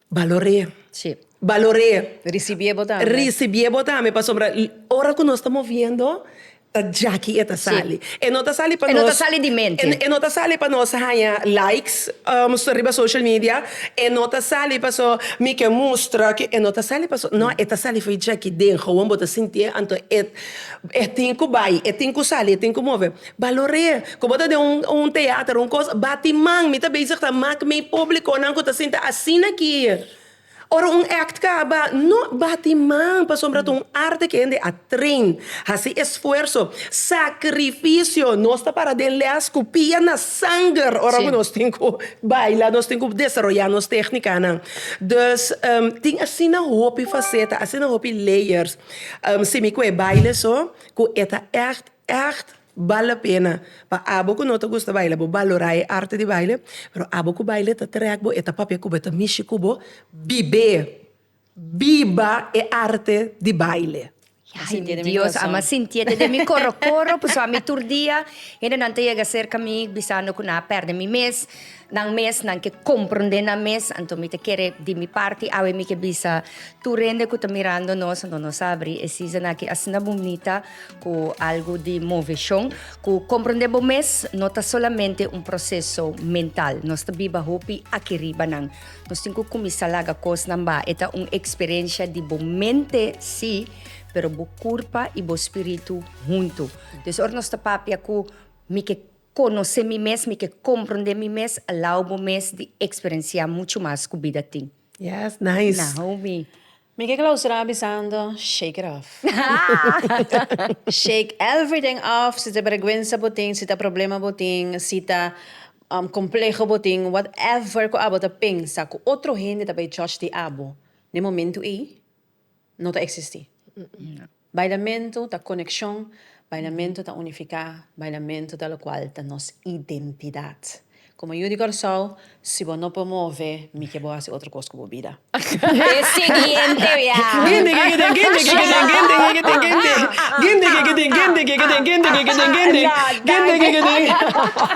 Speaker 1: Balor'é. Sí. Balor'é. Risibié bo tambe. Risibié bo tambe pasobra ora ku nos ta moviendo ta djaki e ta sali. Sí. E no ta sali pa nos. E no ta sali di mente. E no ta sali pa nos haña likes riba social media, e no ta sali paso mi ke mustra ke, e no ta sali paso, no e ta sali for djaki den, hou bo ta sintié anto e tin ku bai, e tin ku sali, e tin ku move. Balor'é ku bo ta den un teater, un kos, bati man, mi ta bezig ta mak mi publikonan ku ta sinta asina aki. Ora un èkt kaba, no bati man, pasobra ta un arte ku hende a train, hasi esfuerso, sakrifisio. Nos ta para den lès ku pia na sanger ora ku nos tin ku baila, nos tin ku desaroyá nos téknikanan. Dus, tin asina hopi faseta, asina hopi layers, simi ku e baile so, ku e ta èkt Ègt bala pena pa abo ku no ta gusta baila bo balorá e arte di baile, pero abo ku baile ta trèk bo e ta papia ku bo e ta mishi ku bo, bib'é, biba e arte di baile. Ay mi Dios a mi a sintiete den mi koro koro pasobra mi tur dia hendenan ta yega serka mi bisando ku nan a pèrdè mi mes. Nan mes nan ke komprondé nan mes, anto mi ta kere di mi parti awe mi ke bisa tur hende ku ta mirando nos, anto nos a abrí e season aki asina bunita ku algu di moveshon, ku komprondé bo mes no ta solamente un proseso mental, nos ta biba hopi aki riba nan, nos tin ku kuminsá laga kosnan ba, e ta un eksperensha di bo mente sí, pero bo kurpa i bo spiritu huntu. Entonces ora nos ta papia ku mi ke. Conoce mi mes, mi ke comprende mi mes a lao bo mes di experencia mucho mas cu bida tin. Yes, nice. Na homie. Mi ke clausura bisando, shake it off. Shake everything off, si ta bergwensa bo tin, si ta problema bo tin, si ta compleho bo tin, whatever cu abo ta pensa cu otro hende ta bay judge di abo den momento ey, no ta existi. Bailamentu ta konekshon, bailamentu ta unifiká, bailamentu ta lokual ta nos identidat. Komo yu di Kòrsou, si bo no por move mi ke bo hasi otro kos ku bo bida. E siguiente wia.